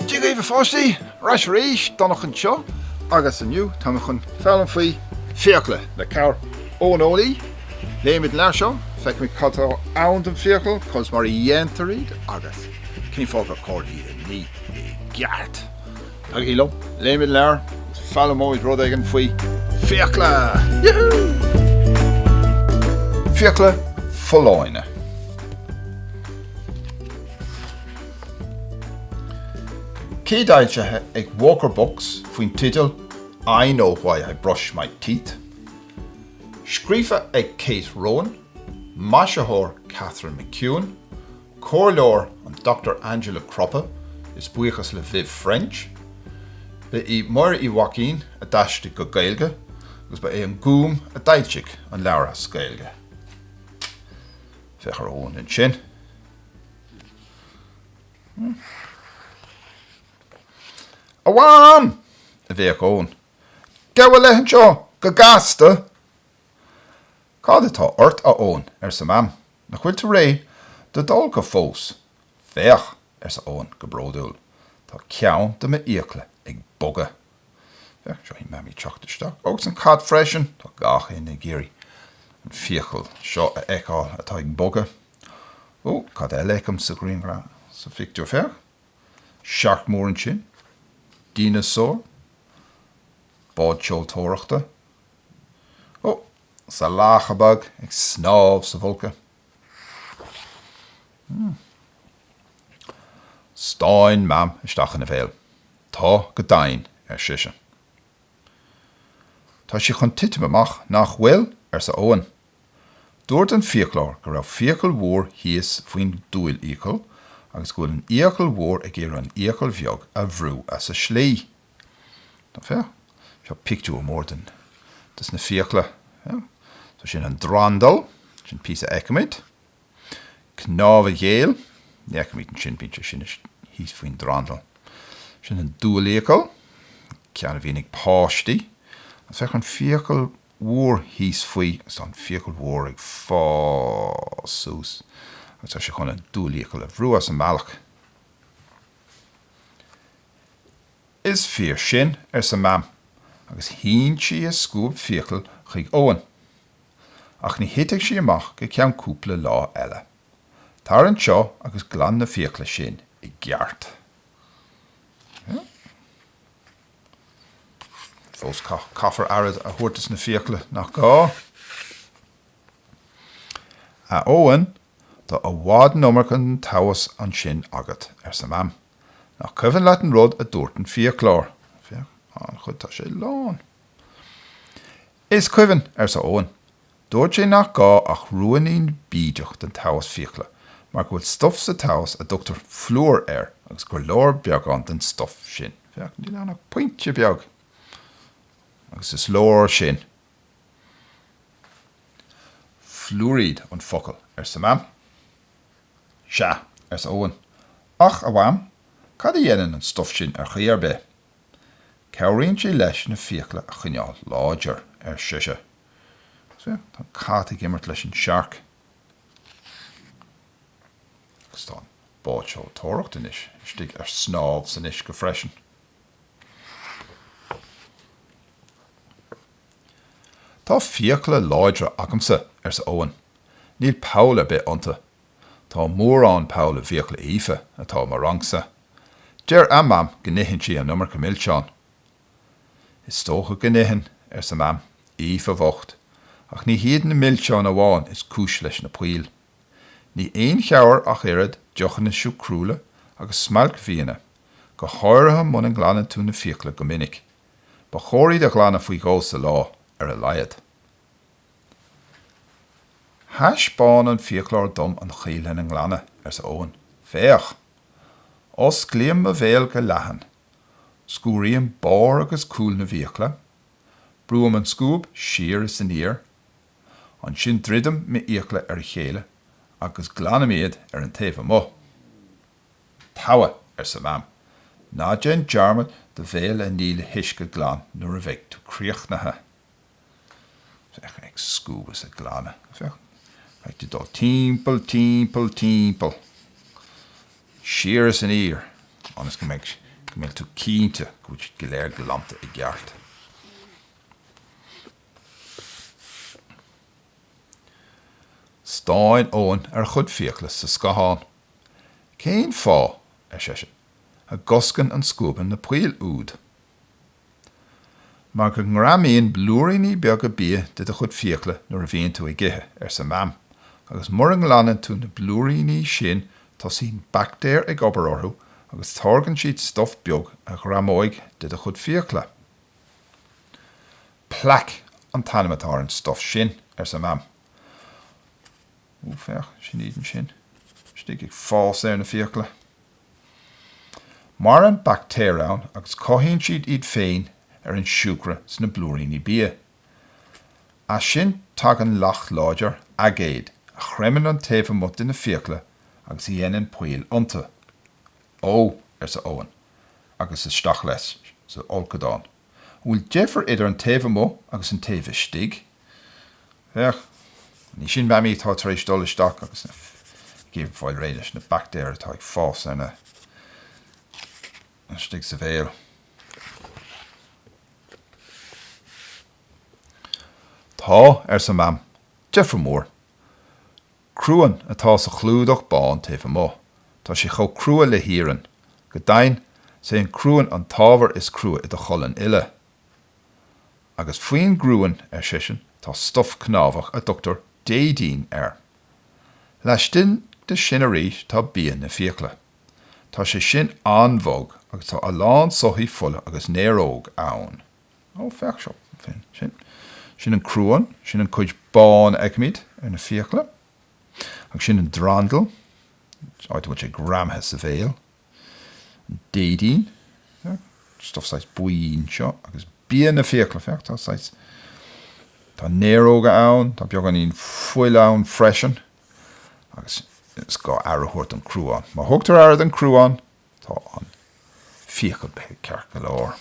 Dia dhaoibh a pháistí! Ar ais arís, Donncha anseo agus inniu tá mé chun foghlaim faoi fiacla le cabhair ón eolaí. Léifimid an leabhar seo, feicfimid cad atá ann don fiacail, conas mar a dhéantar iad agus cén fáth gur cóir iad a ní i gceart. Tagaigí liom, léifimid an leabhar agus foghlaimeoimid rud éigin faoi fiacla! Fiacla folláine. Céadfhoilsithe ag Walker Books faoin teideal I Know Why I Brush My Teeth. Scríofa ag Kate Rowan, maisitheoir Katharine McEwen, Comhairleoir an Dr Angela Cropper is buíochas le Viv French. Ba í Máire Uí Mhaicín a d'aistrigh go Gaeilge agus ba é an Gúm a d'fhoilsigh an leabhar as Gaeilge. Féach ar Eoin ansin. A Mham! a bhéic Eoin. Gabh i leith anseo go gasta! Cad atá ort, a Eoin? arsa Mam. Nach bhfuil tú réidh do d'fholcadh fós? Féach! arsa Eoin go bródúil. Tá ceann de m'fhiacla ag bogadh. Féach seo í Mamaí ag teacht isteach agus an cat freisin. Tá gach éinne ag iarraidh an fiacail seo a fheiceáil atá ag bogadh. Ó, cad eile a fheicim sa ghrianghraf, sa phictiúr? Féach! Siorc mór ansin. Dineasár. Bád seoltóireachta. Ó, is lacha beag ag snámh sa bhfolcadh. Stán Mam isteach ina bhéal. Tá go deimhin, ar sise. Tá sí chun titim amach, nach bhfuil? arsa Eoin. Dúirt an fiaclóir go raibh fiacail mhór thíos faoin diúlfhiacail agus go bhfuil an fhiacail mhór ag iarraidh an fhiacail bheag a bhrú as a slí. Á féach seo pictiúr mór den, dos na fiacla. So sin an drandal, sin píosa a fheicimid. Cnámh an ghéill, ní fheicimid é sin, bíonn sé sin thíos faoin drandal. Sin an diúlfhiacail, ceann a bhíonn ag páistí. Agus féach an fiacail mhór thíos faoi, agus tá an fiacail mhór ag fás suas agus tá sé chun an diúlfhiacail a bhrú as an mbealach. Is fíor sin, arsa Mam, agus shín sí a scuab fiacal chuig Eoin. Ach ní thitfidh sí amach go ceann cúpla lá eile. Tar anseo agus glan na fiacla sin i gceart. Fós caithfear aire a thabhairt dos na fiacla, nach gá? A Eoin, tá i bhfad an iomarca den taos ansin agat, arsa Mam. Nach cuimhin leat an rud a dúirt an fiaclóir? Féach, an-chuid, tá sé lán. Is cuimhin, arsa Eoin. Dúirt sé nach gá ach ruainnín bídeach den taos fiacla mar go bhfuil stuf sa taos a dtugtar flúr air agus gur leor beagán den stuf sin. Féach, níl ann ach pointe beag. Agus is leor sin. Fluairíd an focal, arsa Mam. 'Sea, arsa Eoin, 'ach, a Mham, cad a dhéanann an stuf sin ar chaoi ar bith? 'Cabhraíonn sé leis na fiacla a choinneáil láidir, ar sise. 'Sea, tá an cat ag imirt leis an siorc agus tá an bád seoltóireacht anois istigh ar snámh san uisce freisin. Tá fiacla láidre agamsa, arsa Eoin. Níl poll ar bith iontu. Tá mórán poll i bhfiacla Aoife, atá i mo rangsa. Deir a Mam go n-itheann sí an iomarca milseán. Is dócha go n-itheann, arsa Mam. Aoife bhocht, ach ní hiad na milseáin amháin is cúis leis na poill. Ní aon chabhair ach oiread deochanna siúcrúla agus smailcbhianna. go háirithe muna nglanann tú na fiacla go minic. Ba chóir iad a ghlanadh faoi dhó sa lá, ar a laghad. Thaispeáin an fiaclóir dom an chaoi lena nglanadh, arsa Eoin. Féach! Osclaím mo bhéal go leathan. Sciúraím barr agus cúl na bhfiacla. Brúim an scuab siar is aniar. Ansin druidim m'fhiacla ar a chéile agus glanaim iad ar an taobh amuigh. Togha, arsa Mam. Ná déan dearmad do bhéal a ní le huisce glan nuair a bheidh tú críochnaithe. Féach, ag scuabadh is ag glanadh. Féach, agus tú ag dul timpeall, timpeall, timpeall, siar is aniar, ionas go mbeidh, go mbeidh tú cinnte go bhfuil siad go léir glanta i gceart. Stán Eoin ar a chuid fiacla sa scathán. Cén fáth, ar seisean, a gcoscann an scuabadh na poill úd? Mar go ngreamaíonn blúiríní beaga bia de do chuid fiacla nuair a bhíonn tú ag ithe, arsa Mam, agus mura nglanann tú na blúiríní sin tosaíonn baictéir ag obair orthu agus táirgeann siad stuf beag a ghreamóidh de do chuid fiacla. Plaic an t-ainm atá ar an stuf sin, arsa Mam. Ó, féach, sin iad ansin istigh ag fás ar na fiacla. Maireann baictéir ann agus cothaíonn siad iad féin ar an siúcra sna blúiríní bia. As sin tagann leacht láidir, aigéad, a chreimeann an taobh amuigh de na fiacla agus a dhéanann poill iontu. Ó, arsa Eoin, agus isteach leis sa fholcadán. An bhfuil deifir idir an taobh amuigh agus an taobh istigh? Féach, anois sin Mamaí atá tar éis dul isteach agus í ag iarraidh fáil réidh leis na baictéir atá ag fás ar na istigh sa bhéal. Tá, arsa Mam. Deifir mhór. Cruan atá sa chlúdach bán taobh amuigh. Tá sé chomh crua le hiarann. Go deimhin, 's é an cruan an t-ábhar is crua i do cholainn uile. Agus faoin gcruan, ar seisean, tá stuf cnámhach a dtugtar déidín air. Laistigh de sin arís tá bia na fiacla. Tá sé sin an-bhog agus tá a lán soithí fola agus néaróg ann. Ó, féach seo, sin, sin, sin an cruan, sin an chuid bán a fheicimid ar na fiacla, agus sin an drandal, áit a bhfuil sé greamaithe sa bhéal, an déidín, stuf saghas buí anseo, agus bia na fiacla, féach, tá saghas, tá néaróga ann, tá beagáinín fuil ann freisin, agus is gá aire a thabhairt don chruán. Má thugtar aire don chruán, Tá an fiacail beag ceart go leor.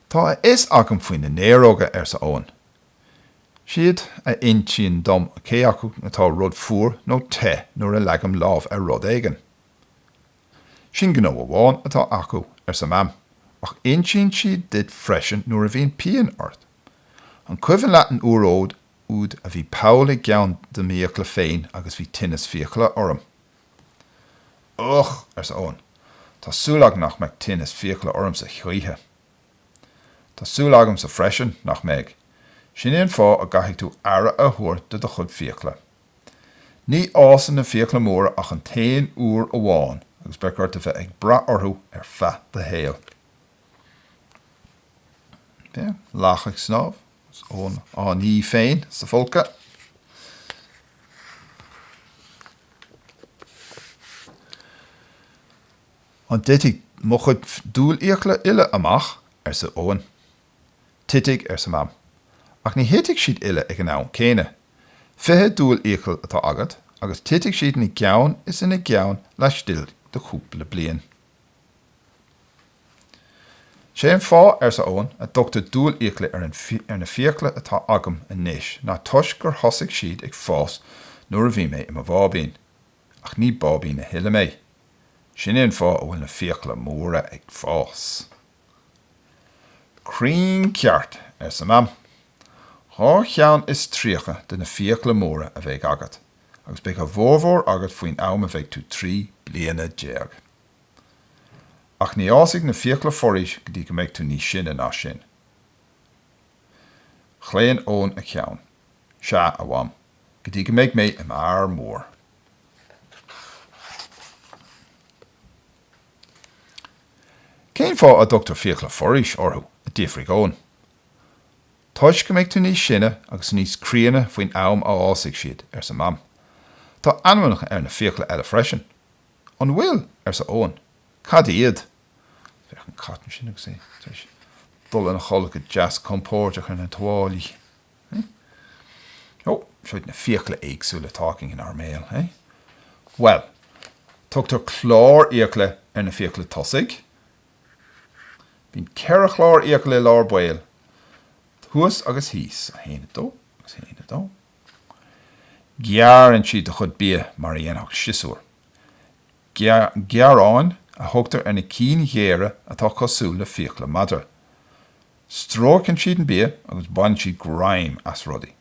Tá a fhios agam faoi na néaróga, arsa Eoin. Is iad a insíonn dom cé acu atá rud fuar nó te nuair a leagaim lámh ar rud éigin. Sin gnó amháin atá acu, arsa Mam, ach insíonn siad duit freisin nuair a bhíonn pian ort. An cuimhin leat an uair úd úd a bhí poll i gceann de m'fhiacla féin agus bhí tinneas fiacla orm. Uch! arsa Eoin, tá súil agam nach mbeidh tinneas fiacla ormsa choíche. Tá súil agamsa freisin nach mbeidh. Sin é an fáth a gcaithfidh tú aire a thabhairt do do chuid fiacla. Ní fhásann na fiacla móra ach an t-aon uair amháin agus beidh ort a bheith ag brath orthu ar feadh do shaoil. Bíonn lacha ag snámh. 's Eoin á ní féin sa folcadh. An dtitfidh mo chuid diúlfhiacla uile amach? arsa Eoin. Titfidh, arsa Mam, ach ní thitfidh siad uile ag an am céanna. Fiche diúlfhiacail atá agat agus titfidh siad ina gceann is ina gceann laistigh de chúpla bliain. 'Sé an fáth, arsa Eoin, a dtugtar diúlfhiacla ar an, ar na fiacla atá agam anois ná toisc gur thosaigh siad ag fás nuair a bhí mé i mo bháibín. Ach ní báibín a thuilleadh mé. Sin é an fáth a bhfuil na fiacla móra ag fás. 'Cruinn ceart, arsa Mam. 'Dhá cheann is tríocha de na fiacla móra a bheidh agat. agus beidh a bhformhór agat faoin am a bheidh tú trí bliana déag. Ach ní fhásfaidh na fiacla forais go dtí go mbeidh tú níos sine ná sin. Chlaon Eoin a cheann. Sea, a Mham, go dtí go mbeidh mé i m'fhear mór. Cén fáth a dtugtar fiacla forais orthu? a d'fhiafraigh Eoin. Toisc go mbeidh tú níos sine agus níos críonna faoin am a fhásfaidh siad, arsa Mam. Tá ainmneacha ar na fiacla eile freisin. An bhfuil? arsa Eoin. Cad iad? Féach an cat ansin agus é tar éis dul ina chodladh go deas compóirdeach ar na tuáillí. Ó, seo iad na fiacla éagsúla atá againn inár mbéal, eh? Bhuel, tugtar clárfhiacla ar na fiacla tosaigh, Bíonn ceithre chlárfhiacail i lár baill, thuas agus thíos, 1, 2, agus 1, 2. Gearrann siad do chuid bia mar a dhéanfadh siosúr. Géaráin a thugtar ar na cinn ghéara atá cosúil le fiacla madra. Stróiceann siad an bia agus baineann siad greim as rudaí.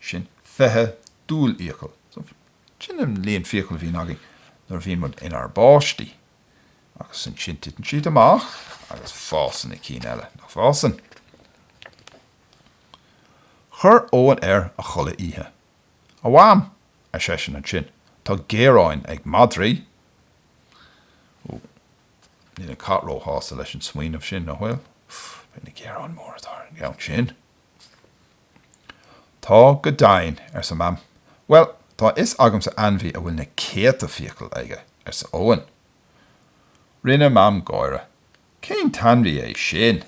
sin fiche diúlfhiacail. Sin an líon fiacail a bhíonn againn nuair a bhíonn muid inár bpáistí. Agus ansin titeann siad amach agus fásann na cinn eile, nach bhfásann? Chuir Eoin air a chulaith oíche. A Mham, ar seisean ansin, tá géaráin ag madraí. Ó, níl an cat róshásta leis an smaoineamh sin, an bhfuil. Féach na géaráin móra atá ar an gceann sin. Tá go deimhin, arsa Mam. Bhuel, tá a fhios agamsa ainmhí a bhfuil na céadta fiacail aige, arsa Eoin. Rinne Mam gáire. Cén t-ainmhí é sin?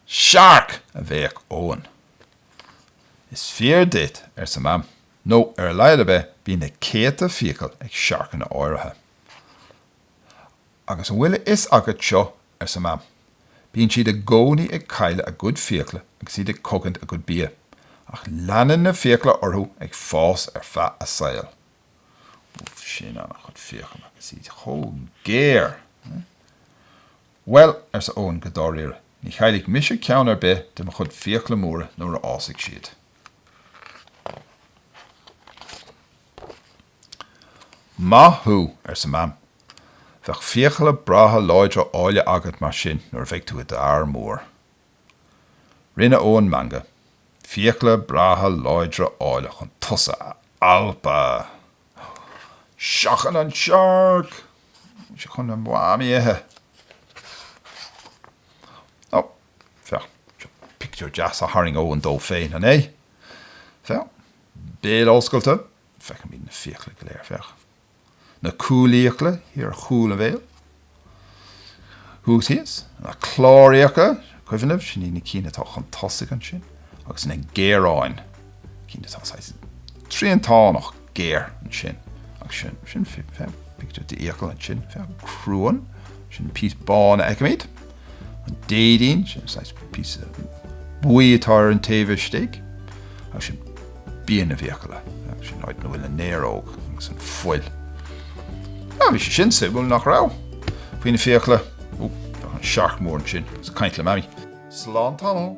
Searc! a bhéic Eoin. Is fíor duit, arsa Mam, nó ar a laghad ar bith bíonn na céadta fiacail ag searcanna áirithe. Agus an bhfuil a fhios agat seo, arsa Mam, bíonn siad i gcónaí ag cailleadh a gcuid fiacla agus iad ag cogaint a gcuid bia, ach leanann na fiacla orthu ag fás ar feadh a saoil. Úf, sin an-chuid fiacal agus iad chomh géar! Bhuel, arsa Eoin go dáiríre, ní chaillfidh mise ceann ar bith de mo chuid fiacla móra nuair a fhásfaidh siad. Maith thú! arsa Mam. Beidh fiacla breátha láidre áille agat mar sin nuair a bheidh tú i d'fhear mór. Rinne Eoin meangadh. Fiacla breátha láidre áille chun tusa a alpadh! Seachain an searc! Bhí sé chun a Mham a ithe! Ó, féach, seo pictiúr deas a tharraing Eoin dó féin, an é? Féach, béal oscailte, Feicimid na fiacla go léir, féach na cúlfhiacla thiar ar chúl a bhéil, thuas thíos, na clárfhiacla, cuimhin libh, sin iad na cinn atá chun tosaigh ansin, agus na géaráin, cinn atá saghas triantánach géar ansin, agus sin, sin, féach, pictiúr d'fhiacail ansin, féach, cruan, sin an píosa bán a fheicimid. An déidín, sin an saghas píosa buí atá ar an taobh istigh, agus sin bia na bhfiacaile, sin an áit ina bhfuil an néaróg agus an fuil. Ó, bhí sé sin suimiúil, nach raibh? Faoi na fiacla, ó, féach an searc mór ansin, agus ag caint le Mamaí. Slán tamall.